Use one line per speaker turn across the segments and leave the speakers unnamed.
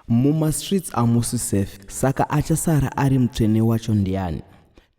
Mumastreets amusi safe saka achasara ari mutsvene wacho ndiani?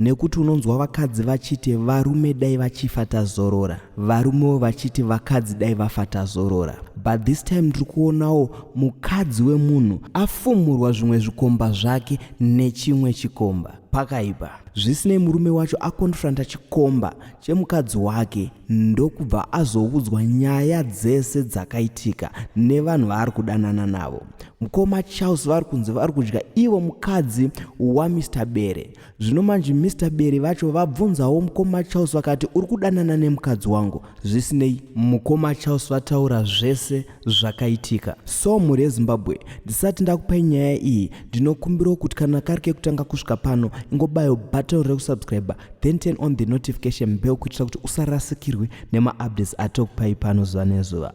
Nekuti unonzwa vakadzi vachiti varume dai vachifa tazorora, varumewo vachiti vakadzi dai vafa tazorora. But this time ndiri kuonawo mukadzi wemunhu afumurwa zvimwe zvikomba zvake nechimwe chikomba. Pakaipa. Zvisinei murume wacho akonfronta chikomba chemukadzi wake ndokubva azoudzwa nyaya dzese dzakaitika nevanhu vaari kudanana navo mukoma charles vari kunzi vari kudya ivo mukadzi wamr bere zvino manje mr bere vacho vabvunzawo mukoma charles vakati uri kudanana nemukadzi wangu zvisinei mukoma charles vataura zvese zvakaitika so mhuri yezimbabwe ndisati ndakupai nyaya iyi ndinokumbirawo kuti kana kari kekutanga kusvika pano ingobayo button rekusubscriber then turn on the notification bell kuitira kuti usarasikirwe nemaupdates atokupai pano zuva nezuva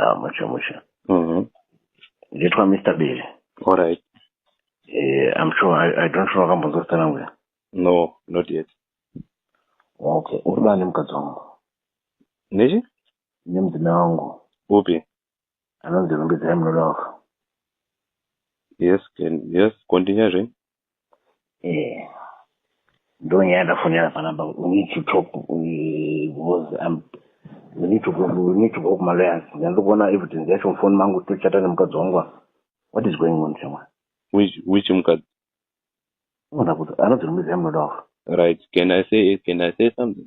Ah, mushe
mushe. Mhm. Nditwa Mr. Bele. All right.
Eh, I'm
sure I, I don't know wakambonzwa zita rangu. here? No, not
yet.
Okay, uri bani mukadzi wangu. Nechi?
Nemudzimai
wangu. Upi?
Anonzi
Rumbidzai Munoda wako.
Yes, can, yes, continue zve. eh
ndonyaya ndafonera panamba we need to talk eh, because I'm we need to go we need to go kuma lawyers ndiri kuona evidence yacho mufoni mangu tochata nemukadzi wangu apa. what is going on shamwari which which
mukadzi unoda kuti anodzi
muziva munoda wafa right can i
say can i say something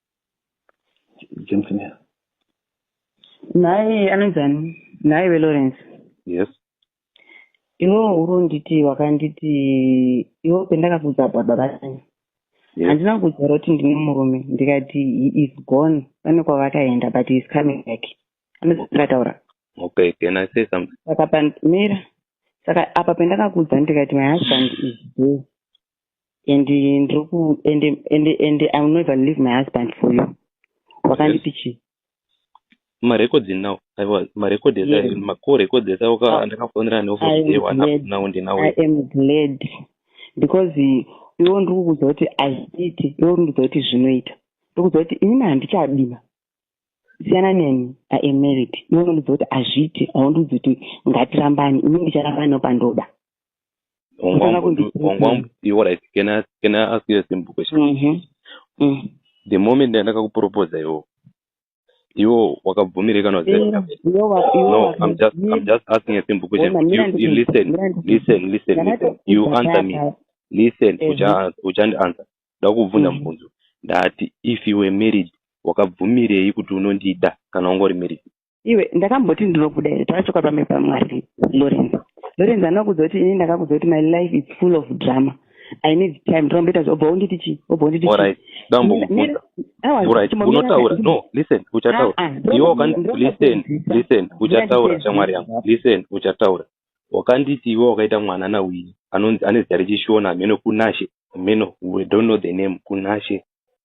Jensen
here? Nhai
anonzani? Nhai veLawrence. Yes. Iwo uronditi wakanditi iwo pendakakudza baba babatani. Yes. Handina
kudza roti
ndine murume ndikati he is gone pane kwavakaenda but he is coming back. Anozakataura. Okay,
can I say something? Saka pandimira.
Saka apa pendakakudza ndikati my husband is there. and ndiri ku and and and i will never leave my husband for you wakandipi chii
marecords now aiwa marecords ese yes. macall records
ese
waka ah. ndakafonera ne office day one up now ndi now i am glad
because iwo ndiri kukuudza kuti azviiti iwo ndiri kuudza kuti zvinoita ndiri kuudza kuti inini handichadima siyana neni i am married iwo ndiri kuudza kuti azviiti awo ndiri kuudza kuti ngatirambani inini ndicharambani no pandoda
iwo right can I, can I ask you a simple question mm -hmm. mm. the moment ndandakakuproposa iwo iwo wakabvumireka no I'm just, I'm just asking a simple question you, you listen listen listen listen you answer me listen uchandianswer ndakubvunza mm-hmm. mubvunzo ndati if you were married wakabvumirei kuti unondida kana ungori married iwe ndakamboti
ndinobuda here tavachoka pame pamwari lorenzo lorenzo anoa kudza kuti ini ndakakudza kuti my life is full of drama i need time ndinomboita zvobva unditi chii obva unditi
chiiunotaura no listen uchataura ah, ah, iwe listen listen uchataura shamwari yangu listen uchataura wakanditi iwe wakaita mwana nawini anonzi ane zita rechishona meno kunashe meno we don't know the name kunashe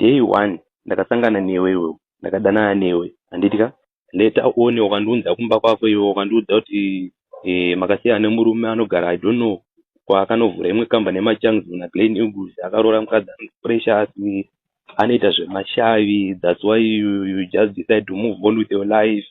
day one ndakasangana newe iwewe ndakadanana newe handiti ka later one wakandiunza kumba kwako iwe wakandiudza kuti eh, makasiya ane murume anogara i don't know kwaakanovhura imwe kamba nemachangs na glen eagles akaroora mukadzi anonzi precious anoita zvemashavi thats why you, you just decide to move on with your life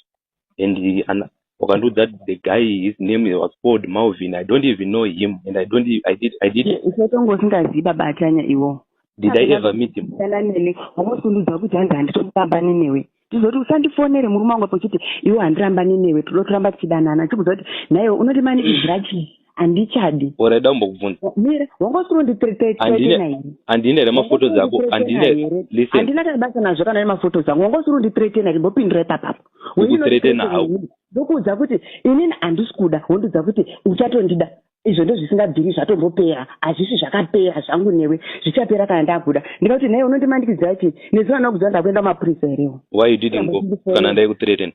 and wakandiudza kuti the guy his name was called malvin i don't even know him and i don't i did i did usatonga usingazivi
baba atanya iwo did i ever meet
him kana nene wamusunduza
kuti hanzi handitomubambani newe tizoti usandifonere murume wangu apo uchiti iwo handirambani newe toda kuramba tichidanana chikuziva kuti nhaiwe unoti mani izrachi handichadi or aida kumbokubvunza
mira wanga usiri
unditretenaii handine here
mafotos ako handinandina kana basa nazvo
kana nemafotos ako wanga usiri unditretena here mbopindira ipapapo ndikutretena hau
ndokuudza kuti
inini handisi kuda wondiudza kuti uchatondida izvo ndozvisingabviri zvatombopera hazvisi zvakapera zvangu newe zvichapera kana ndakuda ndika kuti nhai unondimandikidzira chii nezuva ndakudza ndakuenda kumapurisa herewo why you didn't go
kana ndaikutreaten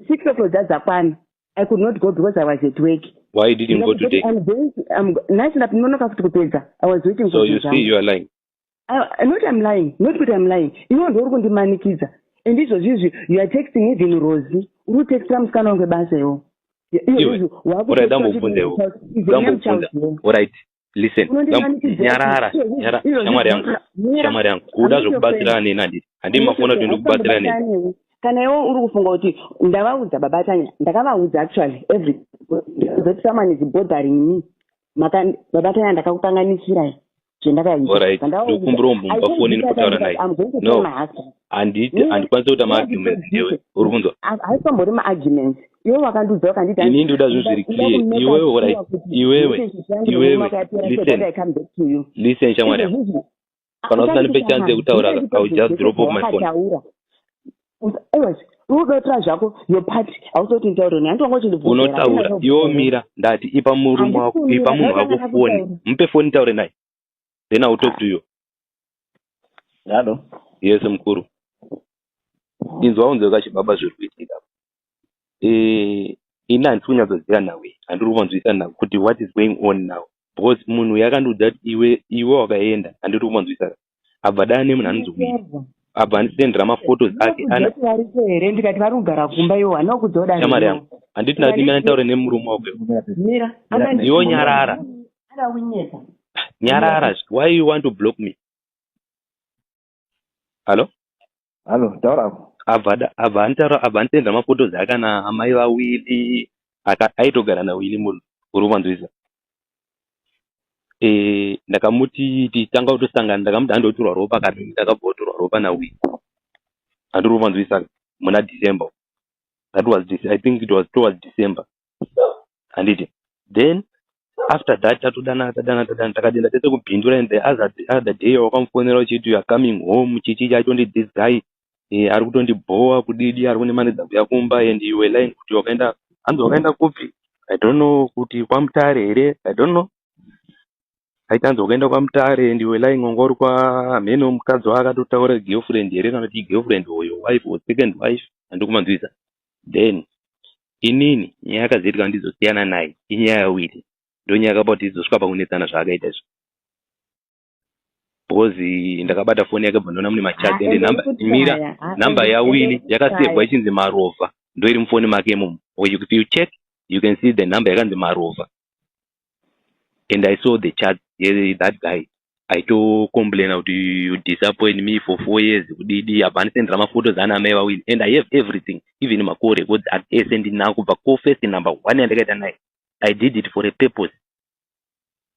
Six o'clock dzadzakwana.
I could not go because I was at work. Why you didn't go
today? I'm going to,
I'm, nhasi ndapinonoka futi kupedza. I was waiting so for you. So you see you are lying. I,
not I'm
lying. Not kuti I'm lying. Iwe ndiwe uri kundimanikidza. And izvozvi izvi you are texting even Rosie. Uri kutextira musikana wangu basa iwo. Iwe, ora dambo bvunzewo.
Dambo bvunza. All right. listen nyarara shamwari yangu shamwari yangu kuda zvekubatsirana neni handiti handii mafona kuti ndikubatsira neni kana iwe uri kufunga
kuti ndavaudza baba tanya ndakavaudza actually every zoti someone is bothering me maka baba tanya ndakakukanganisirai zvendakaitandaakumbira
umbumba foni ndikutaura naye no handiti handikwanisi kuita maarguments newe uri kunzwa haisambori maarguments
iwe wakandiudza wakanditi ini ndoda zvinhu zviri
clear iwewe orit iwewe iwewe listen listen shamwari yangu kana usina ndipe chance yekutaura i will just drop off my phone
unotaura zvako your part hausoti nitaure ne handiwanga uchindibvuunotaura iwo mira
ndati ipa murume wako ipa munhu wako foni mupe foni taure naye then iwill talk to you
halo yes
mukuru inzwa unzwe kachibaba zviri kuitika eh, ini handisi kunyatsoziva nawe handiri kuvanzwisisa nawe kuti what is going on now because munhu uyo akandiudza kuti iwe iwe wakaenda handiri kuvanzwisisa abva dana nemunhu anonzi wii abva andisendera maphotos ake anavaripo here ndikati vari
kugara kumba iwo hana kudzoda shamari yangu handiti
nati ndimene taure nemurume wako
iwo nyarara
nyarara why you want to block me hallo hallo taura
abva
anitaura abva anitenda mafotos aka na amai vawili aitogara nawili munhu uri kuvanzwisa eh, ndakamuti titanga kutosangana ndakamuti handoturwa ropa kati ndakabva kuturwa ropa nawili andiri kuvanzwisa muna december that was i think it was towards december handiti then after that tatodana tadana tadana takadenda tese kubhindura and the other, the other day wakamufonera uchiti youare coming home chichi chatondi this guy eh, ari kutondibhowa kudidi ari kunemanidza kuya kumba and you were lying kuti wakaenda hanzi wakaenda kupi i don't know kuti kwamutare here i don't know aitanzi wakaenda kwamutare and you were lying wanga uri kwamhene wemukadzi waakatotaura girlfriend here kana kuti girlfriend hoyo wife or second wife handikumanzwisa then inini nyaya yakazoita kuti ndizosiyana naye inyaya yawiri ndonyaya yakapa kuti izosvika pakunetsana zvaakaita izvo because ndakabata foni yake bva ndoona mune machati ende number mira number yawili yakasevwa ichinzi marova ndoiri mufoni make imomo if you check you can see the number yakanzi marova and i saw the chat eh, that guy aitocomplaina kuti you disappoint me for four years kudidi abva andisendera maphotos ana amai vawini and i have everything even macall records at ese ndinaa kubva ko first number one yandakaita naye i did it for a purpose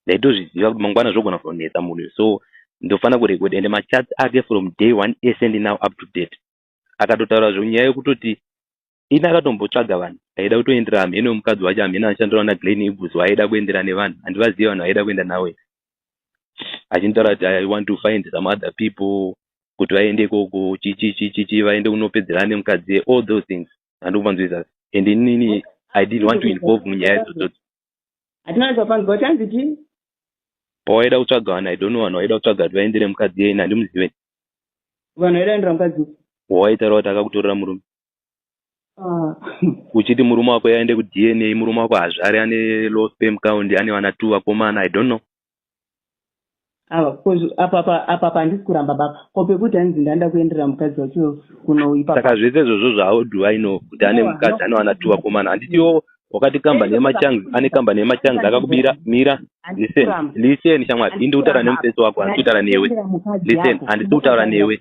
ndaitozviziva kuti mangwana zvogona kutonetsa munhu so ndofanira kurecord and machats ake from day one ese ndinao up to date akatotaura zve nyaya yekutoti ini akatombotsvaga vanhu aida kutoendera hamheno mukadzi wacho hamheno anoshandirawo naglen ibus waaida kuendera nevanhu handivazive vanhu vaida kuenda nawo here achinitaura kuti i want to find some other people kuti vaende ikoko chichichichichi vaende kunopedzerana nemukadzi all those things handikupanzwisa and inini i didn't want to involve munyaya idzodzo hatina
zvapanzwa chanzi chii pawaida
kutsvaga vanhu i don't know vanhu waida kutsvaga kuti vaendere mukadzi yeni handimuzive vanhu
vaida kuendera mukadzi wawaitaura kuti
akakutorera murume ah. uchiti murume wako yaende kudna murume wako hazvare ane low spam count ane vana two vakomana i don't know
apa pandisi kuramba baba ko pekuti hanzi ndanda kuenderera mukadzi wacho kunoipa saka zvese izvozvo zvao
do i know kuti ane mukadzi anowana two vakomana handitiwo wakati kambani yemachangs ane kambani yemachangs akakubira mira listen listen shamwari indi kutaura nemufesi wako handisi kutaura newe listen handisi kutaura newe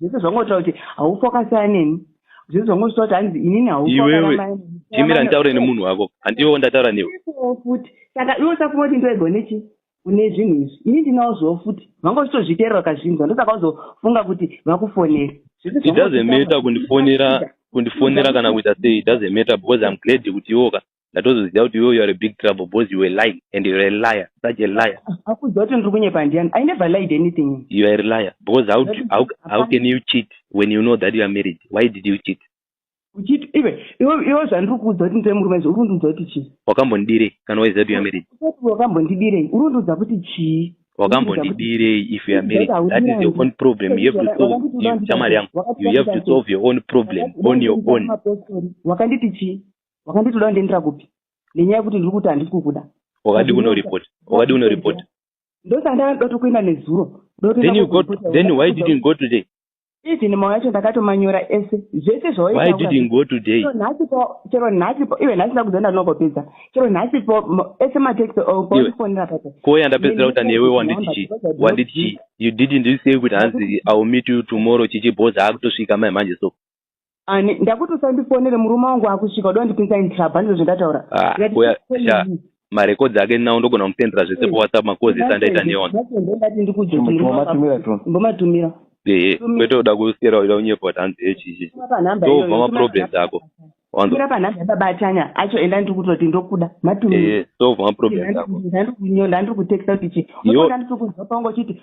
zvese zvangotaura kuti haufa wakasiyana neni zvese zvangotaura kuti hanzi inini haufa timira nditaure
nemunhu wako handiwo ndataura newe futi saka
iwe usafunga kuti ndoegwa nechi une zvinhu izvi ini ndinawo zvowo futi vanga uchitozviteerera kazvinzwa ndosaka uzofunga kuti vakufonera it doesn't
matter kundifonera kundifonera kana kuita sei it doesn't matter because im glad kuti iwoka ndatozoziva kuti iwe youare big trouble because youare lying and youare a liar such a liar akuziva kuti ndiri kunyepa
ndiani i never lied anything youare liar because
how, do, how, how can you cheat when you know that youare married why did you cheat uchiti ive
iwe zvandiri kuudza kuti ndire murume izvi uri kundiudza kuti chii wakambondidirei kana waiziva
kuti yamarried wakambondidirei
uri kundiudza kuti chii wakambondidirei
if youare married that is your own problem you have to solve shamari yangu you have to solve your own problem on your own wakanditi
chii wakanditi uda kundiendera kupi nenyaya yekuti ndiri kuti handisi kukuda wakadi kunoripota
wakadi kunoripota ndosandanga
ndoda tokuenda nezuro then you got then
why didn't go today even mau yacho
ndakatomanyora ese zvese zvawaitaunhasi
po chero
nhasi po iwe nhasi ndakuza ndandinogopedza chero nhasi po ese matext ofonera papo ko yandapedzera kuta newe
wanditi chi wanditi chi you didn't say kuti hanzi iwill meet you tomorrow chichibhoza akutosvika mai manje so ani ndakuti
usandifonere murume wangu akusvika uda kundipinza intrab handizvo zvendataura ah,
marekodzi ake nawo ndogona kumusendera zvese hmm. powhatsapp makozi ese andaita neona
mbomatumira ehe kwete
uda kusiyera uda kunyepa kuti hanzi hechichi ndobva maproblems ako mira panhambe
yababatanya acho enda ndiri kutoti ndokuda matumira ndobva maproblems
ako ndandiri
kutexta kuti chi ndandiri kuzwa pangu uchiti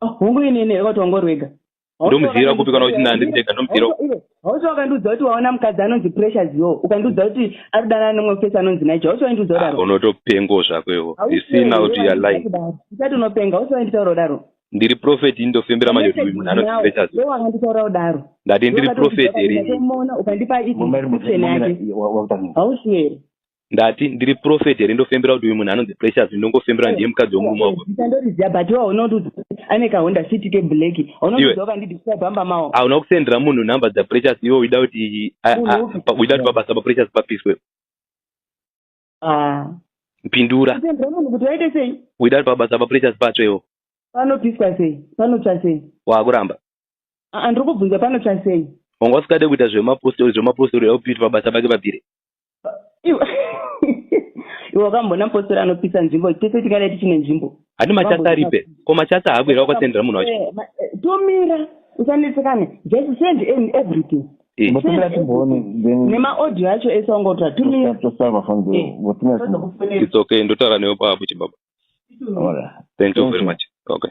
hungu
ini ini kuti wangu rwega ndomuziva kupi
kana uchinda ndiri ndega ndomuziva hausi wakandiudza
kuti waona mukadzi anonzi pressure zio ukandiudza kuti ari kudanana nemwe fesi anonzi naija hausi waindiudza kudaro ah, unotopengo zvako iwo
zvisina kuti ya lie usati unopenga
hausi wainditaura kudaro ndiri prophet ini
ndofembera manje kuti munhu anonzi pressure zio wakanditaura kudaro
ndati ndiri prophet
here ukandipa
iition yake hausi here ndati ndiri
prophet here ndofembera kuti uyu munhu anonzi precious ndongofembera ndiye mukadzi wemurume wako ndandoriziva but waona
kuti ane kahonda city keblack unoziva kandidisa bamba mawo hauna kusendera munhu nhamba
dzaprecious iwe uida kuti uida kuti pabasa paprecious papiswe ah. pindura munhu kuti
waite sei uida kuti pabasa paprecious
patsve iwo panopiswa sei
panotsva sei waakuramba
ah, ah, ndiri
kubvunza panotsva sei wanga usingade kuita
zvemapostori zvemapostori aupiiti pabasa pake papire iwe
wakamboona mupostori anopisa nzvimbo tese tingadai tichine nzvimbo hadi machasa aripe
ko machasa haabwira wakasendera munhu wacho eh, eh, tomira
usanetsekane just send in everything eh. nemaaudio acho ese wangotora tumiaits
okay ndotaura newe paapo chibaba thank you very much okay